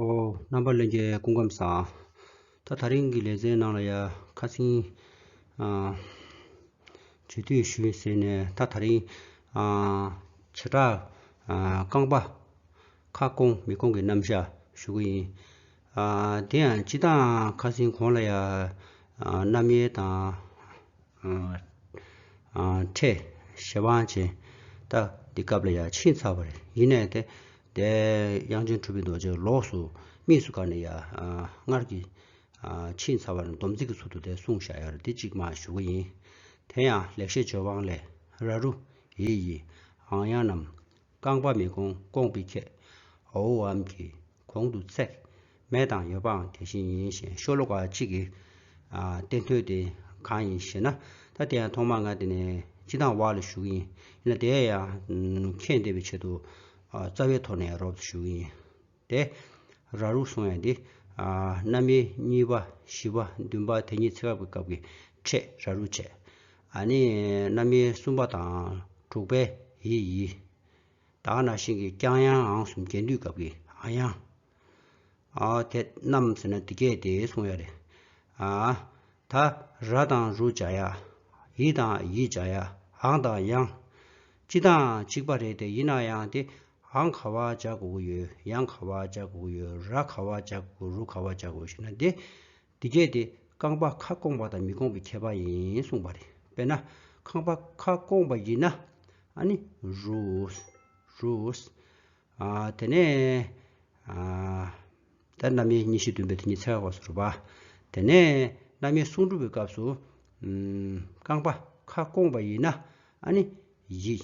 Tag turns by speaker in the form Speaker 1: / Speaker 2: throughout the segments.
Speaker 1: ཨོ། རྣམ་པར་གླན་རྒྱལ་སྐུ་ཁམས་བཟང། ད་ད་རིང་གི་ལས་ཚན་ནང་ལ་ཡ། ཁ་ཚིང། བྱོས་དུས་ཞུ། ཟེར་ནས་ད་ད་རིང། བྱེ་བྲག། རྐང་པ། ཁ་སྐོང་མི་སྐོང་གི་རྣམ་བཞག་ཞུ་གི་ཡིན། དེ་ཡང་སྤྱི་དང་ཁ་ཚིང་གོང་ལ་ཡ། རྣམ་དབྱེ་དང། ཁྲེས་ཞེ་དབང་ཆེན་ད་འདི་སྐབས་ལ་ཡང་ཕྱིན་ཚར་བ་རེད་ཡིན་ནས་དེ་འདས་དབྱངས་ཅན་གྲུབ་པའི་རྡོ་རྗེ་ལོགས་སུ་དམིགས་སུ་བཀར་ནས་ཡ་སྔར་གྱི་ཕྱིན་ཚར་བ་རྣམས་སྡོམ་ཚིག་གི་ཚུལ་དུ་དེ་གསུང་བཞག་ཡ་རེད་འདི་གཅིག་མ་ཞུ་གི་ཡིན། དེ་ཡང་ལེགས་བཤད་ཇོ་བང་ལས་ར་རུ་ཡེ་ཡིས་ཨང་དབྱངས་རྣམས་རྐང་པ་མི་གོང་སྐོང་པའི་ཁྱད་འོའོ་འམ་གྱི་གོང་དུ་ཚེག། མེད་དང་ཡོད་པའང་དེ་བཞིན་ཡིན་ཞེས་ཤོ་ལོ་ཀ་གཅིག་གིས་བསྟན། དོན་དེ་གང་ཡིན་ཞེ་ན། ད་དེ་ཡང་ཐོག་མར་ང་དེ་ནས་སྤྱི་དང་བ་ལ་ཞུགས་ཡིན། ཡིན་ན་དེའི་ཡང་ཁྱེད་འདེབས་པའི་ཆེད་དུ། རྩ་བའི་ཐོག་ནས་རོབ་ཏུ་ཞུགས་ཡིན། དེ། ར་རུ་སོང་ཡང་དེ། གནའ་མི་གཉིས་པ་བཞི་པ་བདུན་པ་དེ་གཉིས་ཚེག་བཀག་པའི་སྐབས་ཀྱི་ཕྲད་ར་རུ་བྱས། ནི་གནའ་མི་གསུམ་པ་དང་དྲུག་པའི་ཡི་ཡིས། དག་ན་ཤིང་གི་རྐྱང་ཡང་ཨང་གསུམ་རྒྱས་འདུས་གབ་ཀྱི་ཨ་ཡང། ཨ་དེ་རྣམས་ཟེར་ན་འདི་སྐད་དེ་གསུང་ཡ་རེ། ཨ་ད་ར་དང་རུ་བྱ་ཡ། ཡི་དང་ཡི་བྱ་ཡ་ཨང་དང་ཡང། གཅིག་དང་གཅིག་པ་རེད་དེ་ཡིན་ན་ཡང་དེ་ཨང་ག་བ་བྱ་དགོས་ཀྱི་ཡོད་ཡང་ག་བ་བྱ་དགོས་ཀྱི་ཡོད་ར་ག་བ་བྱ་དགོས་རུ་ག་བ་བྱ་དགོས་ཞེ་ན་དེ་འདི་གལ་ཏེ་རྐང་པ་ཁ་སྐོང་བ་དང་མི་སྐོང་བའི་ཁྱད་པར་ཡིན་གསུངས་པ་རེད། དཔེར་ན། རྐང་པ་ཁ་སྐོང་བ་ཡིན་ན། ཨ་ནི། རུས། རུས། ཨ། དེ་ནས། ཨ། དེ་རྣམ་དབྱེ་གཉིས་བཞི་བདུན་པའི་དེ་ཉིད་ཚེག་བར་སོར་བ། དེ་ནས། རྣམ་དབྱེ་གསུང་འབྲུ་བའི་སྐབས་སུ། རྐང་པ་ཁ་སྐོང་བ་ཡིན་ན། ཨ་ནི། ཡིག།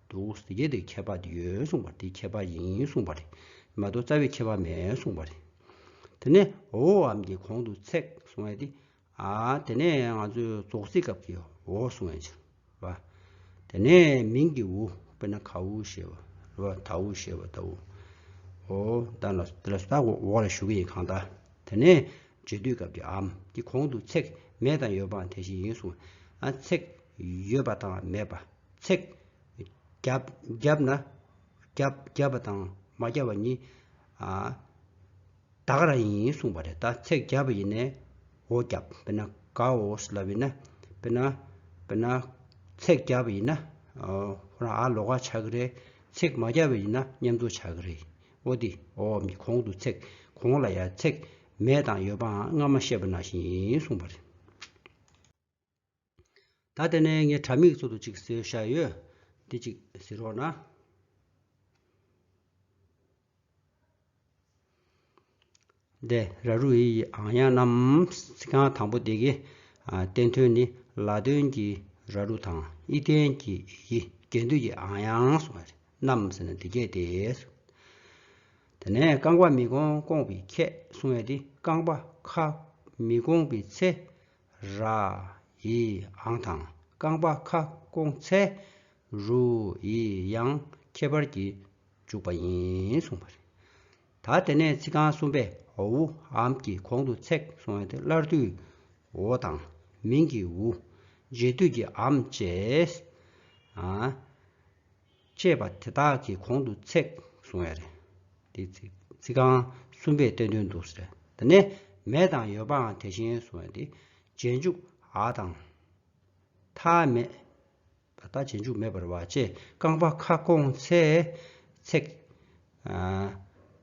Speaker 1: འདུག་ཟེར་གྱི་འདུག་ཁྱད་པར་ཡོད་གསུངས་པར་དེ་ཁྱད་པར་ཡིན་གསུངས་པ་རེད་མ་གཏོགས་རྩ་བའི་ཁྱད་པར་མེད་གསུངས་པ་རེད། དེ་ནས་འོ་འམ་གྱི་གོང་དུ་ཚེག་གསུང་བས་ཏེ། དེ་ནས་ང་ཚོས་རྫོགས་ཚིག་སྐབས་ཀྱི་འོ་གསུང་བས་འཆི་བ། དེ་ནས་མིང་གི་འུ་དཔེར་ན་གའུ་ཞེས་པ་རེད་བ་དའུ་ཞེས་པ་དའུ། འོ་དང་ལ་དེ་ལ་སོ་དག་འོག་ལ་ཞུགས་ཀྱི་ཡིན་གང་དག་དེ་ནས་རྗེས་སྡུད་སྐབས་ཀྱི་འམ་གྱི་གོང་དུ་ཚེག་མེད་དང་ཡོད་པའང་དེ་བཞིན་ཡིན་གསུངས་བས། ཚེག་ཡོད་པ་དང་མེད་པ། ཚེག། བརྒྱབ། བརྒྱབ་ན། བརྒྱབ། བརྒྱབ་པ་དང་མ་བརྒྱབ་པ་གཉིས། དག་ར་ཡིན་གསུངས་པ་རེད་ད་ཚེག་བརྒྱབ་པ་ཡིན་ནའོ་བརྒྱབ་དཔེར་ན་གའོ་སི་ལབ་ཡིན་ན་དཔེར་ན། དཔེར་ན། ཚེག་བརྒྱབ་པ་ཡིན་ན། ཧོ་ར་ཨ་ལོ་ཀ་ཆགས་ཀྱི་རེད། ཚེག་མ་བརྒྱབ་པ་ཡིན་ན་མཉམ་འཛོ་ཆགས་ཀྱི་རེད། ཨོ་དེ། ཨོ་འམ་གྱི་གོང་དུ་ཚེག་གོང་ལ་ཡང་ཚེག་མེད་དང་ཡོད་པའང་སྔ་མ་བཤད་པ་ན་བཞིན་ཡིན་གསུངས་པ་རེད། ད་ལྟ་ནས་ངས་དྲ་མིག་གཙོ་དུ་ཅིག་བཟོས་བཞག་ཡོད། འདི་ཅིག་བཟོས་རོགས་གནང། འདི་ར་རུ་ཡི་ཡི་ཨང་ཡང་རྣམས་གཟིགས་ཁང་དང་པོ་འདི་གི་བསྟན་དོན་ནི་ལ་དོན་གྱི་ར་རུ་དང་ཨི་ལྡན་གྱི་ཡི་རྒྱལ་འདུས་ཀྱི་ཨང་ཡང་སོགས་རྣམས་ཟེར་ན་འདི་སྐད་དེ། དེ་ནས་རྐང་པ་མི་གོང་སྐོང་བའི་ཁྱད་གསུང་བས་འདི་རྐང་པ་ཁ་མི་གོང་བའི་ཚེ་ར། ཡི་ཨང་དང་རྐང་པ་ཁ་སྐོང་ཚེ། རུ། ཡི་ཡང་ཁྱད་པར་གྱིས་འཇུག་པ་ཡིན་གསུངས་པ་རེད། ད་དེ་ནས་ཚིག་རྐང་གསུམ་པའི་ཨུ་ཨམ་གྱི་གོང་དུ་ཚེག་སོང་བ་དེ་སླར་དུས་ཨོ་དང། མིང་གི་ཨུ། རྗེས་དུས་ཀྱི་ཨམ་བཅས། ཅེས་པ་དེ་དག་གི་གོང་དུ་ཚེག་བཟུང་བས་རེད། དེ་ཚིག་རྐང་གསུམ་པའི་བསྟན་དོན་འདུག་ཟེར་བ་ནས་མེད་དང་ཡོད་པའང་དེ་བཞིན་བཟུང་བས་དེ་རྗེས་འཇུག་ཨ་དང། ཐ་མེད། ད་ལྟ་རྗེས་འཇུག་མེད་པར་བ་ཅེས་རྐང་པ་ཁ་སྐོང་ཚེ་ཚེག།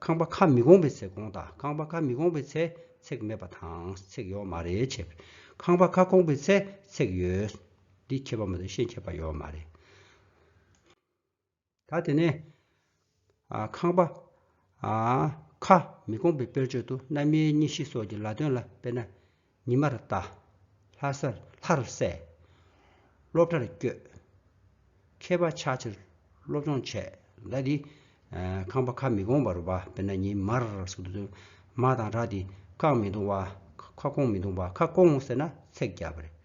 Speaker 1: རྐང་པ་ཁ་མི་སྐོང་པའི་ཚེ་སྐོང་དང་རྐང་པ་ཁ་མི་སྐོང་པའི་ཚེ་ཚེག་མེད་པ་དང་ཚེག་ཡོད་མ་རེད་ཅེས་པས་རྐང་པ་ཁ་སྐོང་པའི་ཚེ་ཚེག་ཡོད། འདི་ཁྱད་པར་མ་དོན་ཤེས་ཁྱད་པར་ཡོད་མ་རེད། ད་དེ་ནས་ཁང་པ། ཁ། མི་དགོངས་པའི་དཔེར་བརྗོད་དུ་རྣམ་དབྱེ་གཉིས་བཞི་སོགས་ཀྱི་ལ་དོན་ལ་དཔེར་ན། ཉི་མར་ལྟ། ལྷར་གསལ། སློབ་གྲྭར་བསྐྱོད། མཁས་པ་ཆགས་ཕྱིར་སློབ་སྦྱོང་བྱས། ཟླ་འདི། ཁང་པ་ཁ་མི་དགོངས་པར་བ་དཔེར་ན་ཉི་མར་སོགས་ཀྱི་དོན། མ་དང་ར་འདི། ཁག་མི་དུང་བ། ཁ་སྐོང་མི་དུང་བ་ཁ་སྐོང་ཟེར་ན་ཚེགས་བརྒྱ་པ་རེད།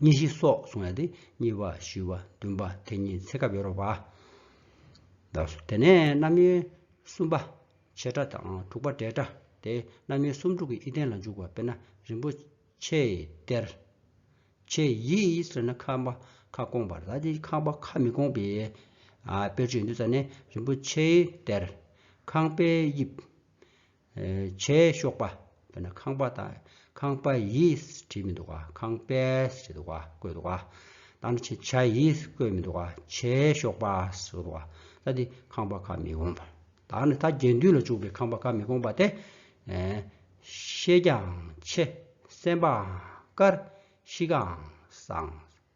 Speaker 1: གཉིས་བཞི་སོགས་གསུངས་ཡོད་དེ་གཉིས་པ་བཞི་བ་བདུན་པ་དེ་གཉིས་ཚེ་སྐབས་ཡོད་རོགས་པ། དེ་ནས་རྣམ་དབྱེ་གསུམ་པ་བྱེ་བྲག་དང་དྲུག་པ་བྲེ་བྲག་སྟེ་རྣམ་དབྱེ་སུམ་དྲུག་གི་དབྱེ་བསྟན་ལ་འཇུག་པ་དཔེར་ན་རིན་པོ་ཆེའི་གཏེར། ཆེ་ཡིས་ཟེར་ན་ཁ་བ་ཁ་སྐོང་བར་ད་དེ་ཁ་བ་ཁ་མི་སྐོང་པའི་དཔེར་བརྗོད་ཡོད་འདུག་ས་ནས་རིན་པོ་ཆེའི་གཏེར། ཁང་པའི་དབྱིབས། བྱའི་གཤོག་པ། དཔེར་ན་ཁང་པ་དང་ཁང་པ་ཡིས་བྲིས་མི་འདུག་ག་ཁང་པས་བྲིས་འདུག་ག་བཀོད་འདུག་ག། དང་པོ་ཆེ་བྱ་ཡིས་བཀོད་མི་འདུག་ག་བྱའི་གཤོག་པས་བཟོ་འདུག་ག་ད་འདི་ཁང་པ་ཁ་མི་གོང་པ། དང་ནི་ད་རྒྱན་དུས་ལ་འཇུག་པའི་ཁང་པ་ཁ་མི་གོང་པ་སྟེ། ཤེས་ཀྱང་ཆེ། སེམས་པའང་དཀར། གཤིས་ཀའང་བཟང།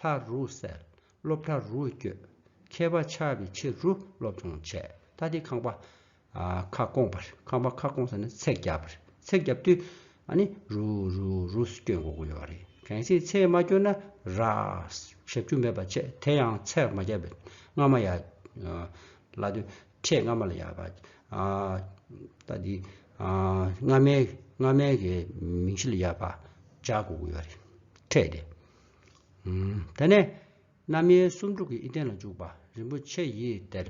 Speaker 1: ལྷ་རུ་གསལ། སློབ་གྲྭ་རུ་བསྐྱོད། མཁས་པ་ཆགས་པའི་ཕྱིར་རུ་སློབ་སྦྱོང་བྱས། ད་ལྟའི་ཁང་པ། ཁ་སྐོང་པར། ཁང་པ་ཁ་སྐོང་ཟེར་ན་ཚེག་བརྒྱབ་པར། ཚེག་བརྒྱབ་དུས། ཨ་ནི། རུ། རུ། རུ། སྐྱོད་འགོ་དགོས་ཡོད་པ་རེད། གལ་སྲིད་ཚེག་མ་བསྐྱོད་ན། ར། ཞབས་ཞུ་མེད་པ་བྱས། དེ་ཡང་ཚེག་མ་བརྒྱབ་པའི། སྔ་མ་ཡ། ལ་དུས། ཁྲས་སྔ་མ་ལ་ཡ། བ། ད་ལྟའི། སྔ་མའི། སྔ་མའི་གི། མིང་གཞི་ལ་ཡ། བ། བྱ་དགོས་ཡོད་རེད། ཁྲས་དེ། དེ་ནས་རྣམ་དབྱེ་སུམ་དྲུག་གི་དབྱིབས་ལྡན་ལ་འཇུག་པ། རིན་པོ་ཆེ་ཡི་གཏེར།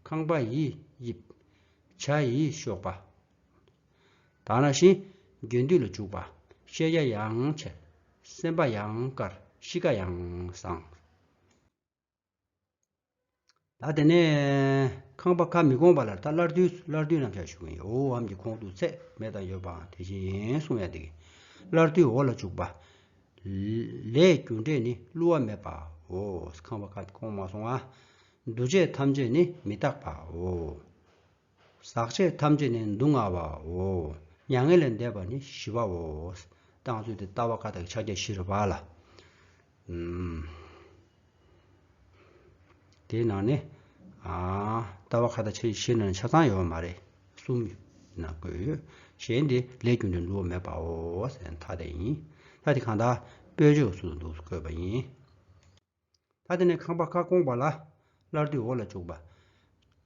Speaker 1: ཁང་པ་ཡི་དབྱིབས། བྱ་ཡི་གཤོག་པ། དང་རང་བཞིན། རྒྱུན་འདུས་ལ་འཇུག་པ། ཤེས་རྒྱ་ཡང་ཆེ། སེམས་དཔའ་ཡང་དཀར་གཤིས་ཀ་ཡང་བཟང། ད་དེ་ནས་ཁང་པ་ཁ་མི་སྐོང་པ་ལ་ད་སླར་དུས་སླར་དུས་རྣམས་བྱ་ཞུ་གིན་ཡོ་འམ་གྱི་ཁོང་དུ་ཚད་མེད་དང་ཡོད་པའང་དེ་བཞིན་ཡིན་གསུང་ཡང་འདེགས། སླར་དུས་འོག་ལ་བཅུག་པ། ལས་རྒྱུ་འབྲས་ནི་བསླུ་བ་མེད་པའོ། ཁང་པ་ཁ་སྐོང་མ་སོང་བ། འདུ་བྱེད་ཐམས་ཅད་ནི་མི་རྟག་པའོ། ཟག་བཅས་ཐམས་ཅད་ནི་སྡུག་བསྔལ་བའོ། མྱ་ངན་ལས་འདས་པ་ནི་ཞི་བའོ། བཏང་ཚུལ་དེ་ལྟ་བ་ཀ་དག་ཕྱག་རྒྱ་བཞིར་བ་ལ། དེའི་ནང་ནས། ལྟ་བ་ཁ་དག་ཕྱག་རྒྱ་བཞིར་ནང་ནས་ཆ་ཚང་ཡོད་པ་མ་རེད། གསུམ་ཡོད་ན་དགོས། གཞན་དེ་ལས་རྒྱུ་འབྲས་འགྲོ་བ་མེད་པའོ། མཐའ་དེ་ཡིན། མཐའ་དེ་གང་དག། དཔེར་བརྗོད་སུ་འདུག་བཀོད་པ་ཡིན། ཐ་དད་ནས་ཁང་པ་ཁ་སྐོང་བ་ལ། སླར་དུས་འོག་ལ་བཅུག་པ།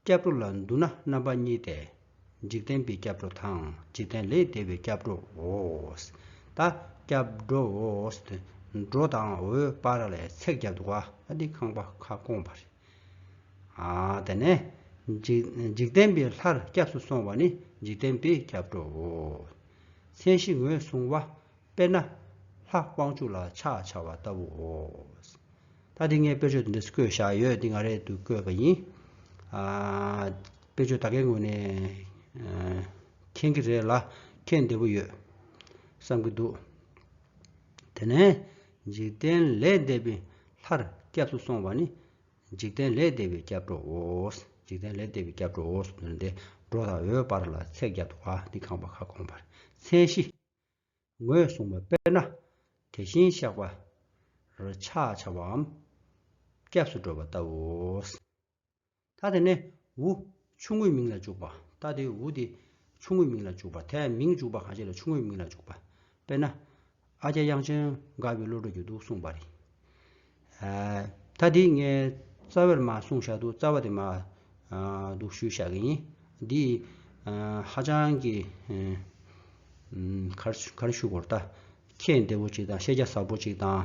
Speaker 1: སྐྱབས་འགྲོ་ལ་འདུ་ན་རྣམ་པ་གཉིས་ཏེ། འཇིག་རྟེན་པའི་སྐྱབས་འགྲོ་དང་འཇིག་རྟེན་ལས་འདས་པའི་སྐྱབས་འགྲོའོ། ད་སྐྱབས་འགྲོའོ། འགྲོ་དང་འོད་དཔག་ལས་ཚེགས་བརྒྱ་འདུག་བ་འདི་ཁང་པ་ཁ་སྐོང་བ་རེད། དེ་ནས་འཇིག་རྟེན་པའི་ལྷར་སྐྱབས་སུ་སོང་བ་ནི་འཇིག་རྟེན་པའི་སྐྱབས་འགྲོའོ། མཚན་གཞི་ངོས་བཟུང་བ། དཔེར་ན། ལྷ་དབང་ཕྱུག་ལ་ཕྱག་འཕྱར་བ་ལྟ་བུའོ། ད་འདི་ངས་དཔེར་བརྗོད་འདི་འདྲ་བཀོད་བཞག་ཡོད་འདི་ང་རེད་འདུག་བཀོད་པ་ཡིན། དཔེར་བརྗོད་ད་གའི་ངོས་ནས་མཁྱེན་གྱི་རེད་ལ་མཁྱེན་བདེ་བོ་ཡོད་བསམ་གྱི་འདུག། དེ་ནས་འཇིག་རྟེན་ལས་འདས་པའི་ལྷར་སྐྱབས་སུ་སོང་བ་ནི་འཇིག་རྟེན་ལས་འདས་པའི་སྐྱབས་འགྲོའོ། འཇིག་རྟེན་ལས་འདས་པའི་སྐྱབས་འགྲོའོ་སོགས་འདི་འདྲ་སྟེ་འགྲོ་དང་འོད་འབར་ལ་ཚེགས་བརྒྱ་དུ་བ་འདི་ཁང་པ་ཁ་སྐོང་བར་མཚན་གཞི། ངོས་བཟུང་བ་དཔེར་ན་དེ་བཞིན་གཤེགས་པ། རོ་ཆགས་འཆར་བའམ་སྐྱབས་སུ་འགྲོ་བ་ལྟ་བུའོ། ཐ་དེ་ནས་འུ་ཆུང་ངུའི་མིང་ལ་འཇུག་པ། ཐ་དེ་འུ་དེ་ཆུང་ངུའི་མིང་ལ་འཇུག་པ། ཐ་མིང་འཇུག་པ་གང་ཞིག་ལ་ཆུང་ངུའི་མིང་ལ་འཇུག་པ། དཔེར་ན། ཨ་ཀྱཱ་དབྱངས་ཅན་དགའ་བའི་བློ་གྲོས་ཀྱི་གདུགས་གསུངས་པ་རེད། ད་འདི་ངས་རྩ་བའི་མ་གསུངས་བཞག་འདུག་རྩ་བ་དེ་མ་འདུག་ཞུས་བཞག་གི་ཡིན། འདི་ཧ་ཅང་གི་ག་རེ་ཞུ་གོ་རྟ། ཁྱེད་བདེ་བོ་ཅིག་དང་ཤེས་རྒྱ་ཟབ་པོ་ཅིག་དང།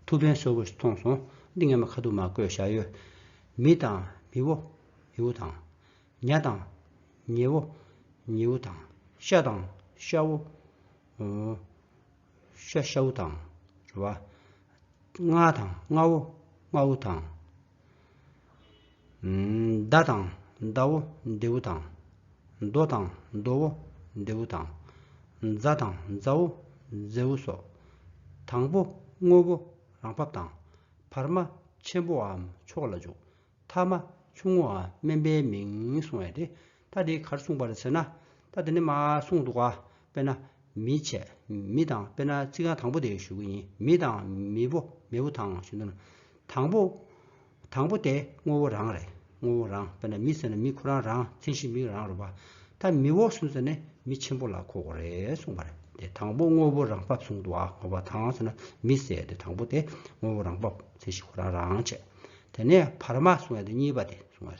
Speaker 1: ཐུགས་ཕན་གསོས་པོ་ཞིག་མཐོང་སོང། འདི་ངས་མ་ཁ་ཐུག་མ་བཀོད་བཞག་ཡོད། མི་དང་མི་བོ་མི་བོ་དང། ཉལ་དང་ཉལ་བོ་ཉལ་བོ་དང། ཤ་དང་ཤ་བོ། ཤ་ཤ་བོ་དང། རེ་བ། རྔ་དང་རྔ་བོ་རྔ་བོ་དང། མདའ་དང་མདའ་བོ་མདེ་བོ་དང། མདོ་དང་མདོ་བོ་མདེ་བོ་དང། མཛའ་དང་མཛའ་བོ་མཛེ་བོ་སོགས། དང་པོ་དངོས་པོ་རང་བབས་དང། བར་མ་ཆེན་པོའམ་མཆོག་ལ་འཇུག། ཐ་མ་ཆུང་ངུའང་དམན་པའི་མིང་གསུང་བས་ཏེ་ཐ་དེའི་གར་གསུངས་པར་ཟེར་ན། ཐ་དེ་ནི་མ་གསུངས་འདུག་ག་དཔེར་ན་མི་བྱས་མི་དང་དཔེར་ན་ཚིག་རྐང་དང་པོ་དེ་ཞུ་གི་ཡིན་མི་དང་མི་བོ་མི་བོ་དང་ཞུ་འདོད་ན། དང་པོ། དང་པོ་དེ་དངོས་བོ་རང་རེད་དངོས་བོ་རང་དཔེར་ན་མི་ཟེར་ན་མི་ཁོ་རང་རང་མཚན་གཞི་མིག་རང་རུ་བ། ཐ་མི་བོ་གསུངས་ཟེར་ནས་མི་ཆེན་པོ་ལ་གོ་གོ་རེད་གསུངས་པར་དེ་དང་པོ་དངོས་བོ་རང་བབས་གསུངས་འདུག་ག་ངོ་བ་དང་ཟེར་ན་མི་ཟེར་ཏེ་དང་པོ་དེ་དངོས་བོ་རང་བབས་མཚན་གཞི་ཁོ་རང་རང་བྱས། དེ་ནས་བར་མ་གསུང་བ་དེ་གཉིས་པ་དེ་གསུང་བ།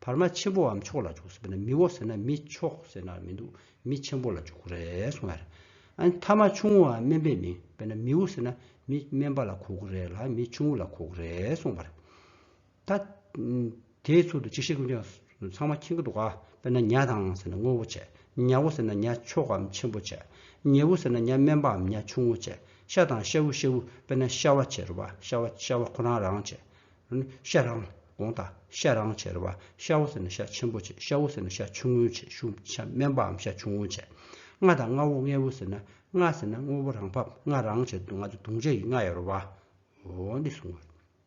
Speaker 1: བར་མ་ཆེན་པོའམ་མཆོག་ལ་འཇུག་ཟེར་ན་མིའོ་ཟེར་ན་མི་མཆོག་ཟེར་ན་མི་འདུག་མི་ཆེན་པོ་ལ་འཇུག་རེད་གསུང་བ། ཐ་མ་ཆུང་ངུའམ་དམན་པའི་མིང་དཔེར་ན་མིའོ་ཟེར་ན་མི་དམན་པ་ལ་གོ་དགོས་རེད་ལ་མི་ཆུང་ངུ་ལ་གོ་དགོས་རེད་གསུང་བ། ད་དེའི་ཚུལ་དུ་ཅིག་ཤེས་ཀུན་བྱང་ཚང་མ་ཁྱི་འགའ་འདུག་ག་དཔེར་ན་ཉྭ་དང་ཟེར་ན་སྔོན་བོ་བྱེད། ཉྭ་བོ་ཟེར་ན་ཉྭ་མཆོག་གམ་ཆེན་པོ་བྱེད། ཉལ་བུ་ཟེར་ན་ཉྭ་དམན་པའམ་ཉྭ་ཆུང་ངུ་བྱེད། ཤ་དང་ཤ་བུ་ཤེ་བུ་དཔེར་ན་ཤ་བ་བྱེད་རོ་བ་ཤ་བ་ཤ་བ་ཁོ་རང་རང་བྱེད། ཤ་རང། གོང་ད། ཤ་རང་བྱེད་རོ་བ་ཤ་བོ་ཟེར་ན་ཤ་ཆེན་པོ་བྱེད་ཤ་བོ་ཟེར་ན་ཤ་ཆུང་ངུ་བྱེད་ཤུ་ཤ་དམན་པའམ་ཤ་ཆུང་ངུ་བྱེད། རྔ་དང་རྔ་བོ་རྔེ་བོ་ཟེར་ན་རྔ་ཟེར་ན་དངོས་པོ་རང་ཕབ་རྔ་རང་བྱེད་དུང་ང་དུ་དུང་ཅན་གྱི་རྔ་ཡོད་རོ་བ་འོ་འདི་གསུངས།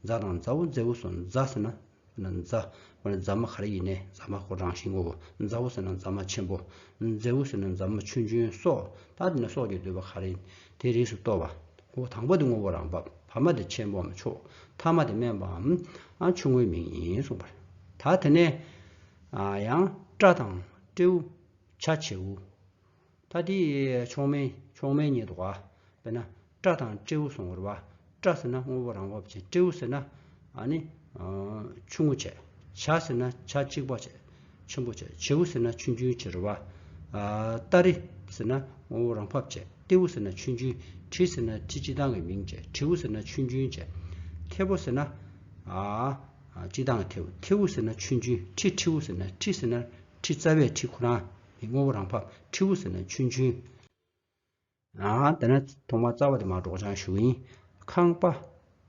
Speaker 1: རྫ་དང་རྫ་བོ་མཛའ་བོ་སོགས་རྫ་ཟེར་ན་རྫ། རྫ་མ་ག་རེ་ཡིན་ནས་རྫ་མ་ཁོ་རང་བཞིན་ངོ་བོ་མཛའ་བོ་ཟེར་ན་རྫ་མ་ཆེན་པོ། མཛའ་བོ་ཟེར་ན་རྫ་མ་ཆུང་ཆུང་སོགས་ད་དེ་ནས་སོགས་ཀྱིས་བསྡུས་པ་ག་རེ་ཡིན་དེའི་རིགས་སུ་གཏོགས་པ། དང་པོ་དེ་ངོ་བོ་རང་བབས་བར་མ་དེ་ཆེན་པོའམ་ཕྱོགས་མཐའ་མ་དེ་དམན་པའམ་ཆུང་ངུའི་མིང་ཡིན་གསུངས་པར། ད་དེ་ནས་ཡང་སྤྲ་དང་སྤྲེའུ། བྱ་བྱེའུ། ཐ་དེ་མཆོག་དམན་མཆོག་དམན་ཉིད་དོ། དཔེར་ན་སྐྲ་དང་སྤྲེའུ་གསུང་ངོར་བ། སྐྲ་ཟེར་ན་དངོས་པོ་རང་བབ་ཅན་སྤྲེའུ་ཟེར་ན་ནི་ཆུང་ངུ་བྱེད། བྱ་ཟེར་ན་བྱ་གཅིག་པ་བྱེད་ཆེན་པོ་བྱེད་བྱེའུ་ཟེར་ན་ཆུན་ཆུན་བྱེད་རོལ་བ། སྟ་རེ་ཟེར་ན་དངོས་པོ་རང་བབ་བྱེད་སྟེའུ་ཟེར་ན་ཆུན་ཆུན་གྲི་ཟེར་ན་གྲི་སྤྱི་དང་གི་མིང་བྱེད་གྲེའུ་ཟེར་ན་ཆུན་ཆུན་བྱེད་ཐེ་བོ་ཟེར་ན་སྤྱི་དང་གི་ཐེའུ་ཐེའུ་ཟེར་ན་ཆུན་ཆུན་ཁྲི་ཁྲིའུ་ཟེར་ན་ཁྲི་ཟེར་ན་ཁྲི་རྩ་བའི་ཁྲི་ཁོ་རང། དེ་དངོས་པོ་རང་ཕབ་ཁྲིད་བུ་ཟེར་ན་ཆུན་ཆུན། ཨང། དེ་ན་ཐོག་མར་རྩ་བ་དེ་མ་འགྲོགས་བྱང་ཞུ་ཡིན། ཁང་པ།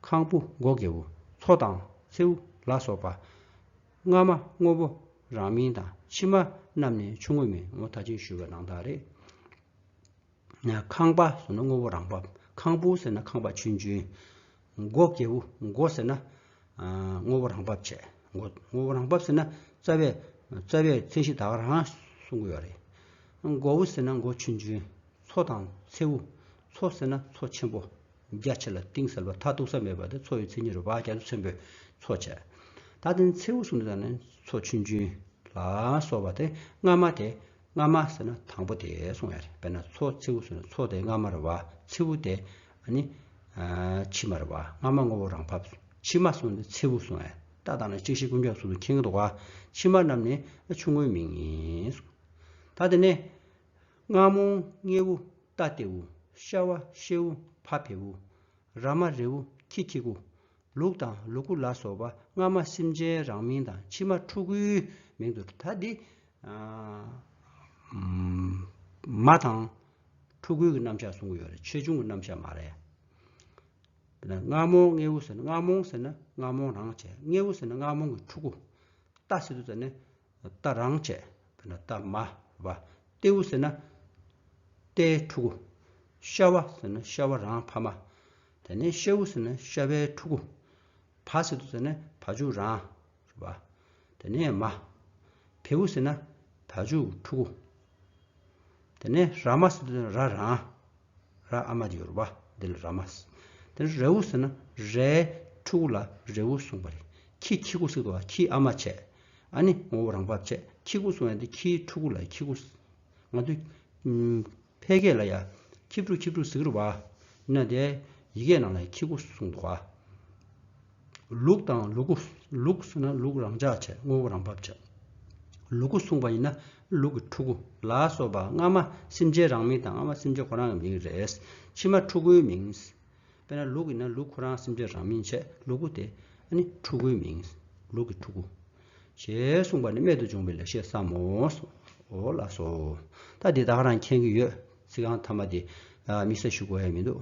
Speaker 1: ཁང་བུ་སྒོ་སྒེ་བུ། མཚོ་དང། མཚེའུ། ལ་སོགས་པ། སྔ་མ་དངོས་པོ་རང་མིན་དང་ཕྱི་མ་རྣམས་ནི་ཆུང་ངུ་མིན་ངོ་ད་ཅིང་ཞུ་བའི་ནང་དག་རེད། ཁང་པ་ཟེར་ན་དངོས་པོ་རང་བབས། ཁང་བུ་ཟེར་ན་ཁང་པ་ཆུན་ཆུན། སྒོ་སྐྱེས་བུ་སྒོ་ཟེར་ན། དངོས་པོ་རང་བབས་བྱས། དངོས་པོ་རང་བབས་ཟེར་ན་རྩ་བའི་རྩ་བའི་མཚན་གཞི་དག་རང་གསུངས་གི་ཡོད་རེད། སྒོ་བུ་ཟེར་ན་སྒོ་ཆུན་ཆུན། མཚོ་དང་མཚེའུ། མཚོ་ཟེར་ན་མཚོ་ཆེན་པོ། རྒྱ་ཆེ་ལ་གཏིང་ཟབ་ལ་མཐའ་གཏུགས་ས་མེད་པ་དེ་མཚོ་ཡི་མཚན་ཉིད་རེད་བག་རྒྱ་མཚོ་ཆེན་པོས་མཚོ་བྱས། ད་ལྟ་མཚེའུ་གསུངས་འདུག་ད་ནི་མཚོ་ཆུན་ཆུན། ལ་སོགས་པ་དེ་སྔ་མ་དེ། སྔ་མ་ཟེར་ན་དང་པོ་དེ་སོང་བས་རེད་དཔེར་ན་མཚོ་མཚེའུ་ཟེར་ན་མཚོ་དེ་སྔ་མ་རེད་བ་མཚེའུ་དེ་ནི་ཕྱི་མ་རེད་བ་སྔ་མ་ངོ་བོ་རང་བབས་སོང་ཕྱི་མ་སོང་སྟེ་མཚེའུ་སོང་བས་ལྟ་སྟངས་ནི་གཅིག་ཤེས་ཀུན་ཀྱང་ཟུར་དུ་འཁྱེར་གྱི་འདུག་བ་ཕྱི་མ་རྣམས་ནི་ཆུང་ངུའི་མིང་ཡིན་སོང། ད་དེ་ནས་སྔ་མོ་སྔེའུ་རྟ་སྟེའུ་ཤ་བ་ཤེའུ་ཕ་ཕེའུ་ར་མ་རེའུ་ཁྱི་ཁྱི་གུ་ལུག་དང་ལུ་གུ་ལ་སོགས་པ་སྔ་མ་སེམས་ཅན་རང་མིང་དང་ཕྱི་མ་ཕྲུ་གུའི་མིང་དུ་ད་འདི། མ་དང། ཕྲུ་གུའི་གི་རྣམ་གཞག་གསུང་གི་ཡོད་རེད་ཆོས་འབྱུང་གི་རྣམ་གཞག་མ་རེད། རྔ་མོང་རྔེའུ་ཟེར་ན་རྔ་མོང་ཟེར་ན་རྔ་མོང་རང་བྱས་རྔེའུ་ཟེར་ན་རྔ་མོང་གི་ཕྲུ་གུ། རྟ་ཟེར་དུ་ཟེར་ནས་རྟ་རང་བྱས་བས་ན་རྟ་མ་བ། རྟེའུ་ཟེར་ན་རྟའི་ཕྲུ་གུ། ཤ་བ་ཟེར་ན་ཤ་བ་རང་ཕ་མ། དེ་ནས་ཤ་བུ་ཟེར་ན་ཤ་བའི་ཕྲུ་གུ། བ་སེ་དུ་ཟེར་ན་བ་ཕྱུགས་རང། བ། དེ་ནས་མ། བེ་བུ་ཟེར་ན་བ་ཕྱུགས་ཕྲུ་གུ། དེ་ནས་ར་མ་སེ་དུ་ཟེར་ན་ར་རང། ར་ཨ་མ་ཡོར་བ་འདི་ལ་ར་མ། དེ་ནས་རེ་བུ་ཟེར་ན་རའི་ཕྲུ་གུ་ལ་རེ་བུ་གསུངས་པ་རེད། ཁྱི་ཁྱི་གུ་སེ་དུ་བ་ཁྱི་ཨ་མ་བྱས། ཨ་ནི་ངོ་བོ་རང་བབས་བྱས་ཁྱི་གུ་གསུངས་ཡང་དེ་ཁྱིའི་ཕྲུ་གུ་ལ་ཁྱི་གུ། ང་དུས། ཕལ་སྐད་ལ་ཡང་ཁྱི་ཕྲུག་ཁྱི་ཕྲུག་ཟེར་གི་རུ་བ། ནཱ་དའི་ཡི་གེ་རྣམས་ལ་ཡང་ཁྱི་གུ་གསུང་གི་བ། ལུག་དང་ལུ་གུ། ལུག་ཟེར་ན་ལུག་རང་འཇགས་བྱེད་དངོས་པོ་རང་འབབ་བྱེད། ལུ་གུ་གསུང་བ་ཡིན་ན་ལུག་གི་ཕྲུ་གུ་ལ་སོགས་པ་སྔ་མ་སེམས་ཅན་རང་མིང་དང་སྔ་མ་སེམས་ཅན་ཁོ་རང་གི་མིང་རེད། ཕྱི་མ་ཕྲུ་གུའི་མིང། དཔེར་ན་ལུག་གི་ནང་ལུག་ཁོ་རང་སེམས་ཅན་རང་མིན་ཆད་ལུག་གུ་དེ་ནི་ཕྲུ་གུའི་མིང། ལུག་གི་ཕྲུ་གུ། ཞེས་གསུངས་པ་ནི་རྨད་དུ་བྱུང་བའི་ལེགས་བཤད་བསམ་མོ། འོ་ལགས་སོ། ད་འདི་དག་རང་མཁྱེན་གྱི་ཡོད། ཚིག་རྐང་ཐ་མ་དེ། དམིགས་ས་ཞུ་དགོས་ཡ་མི་འདུག།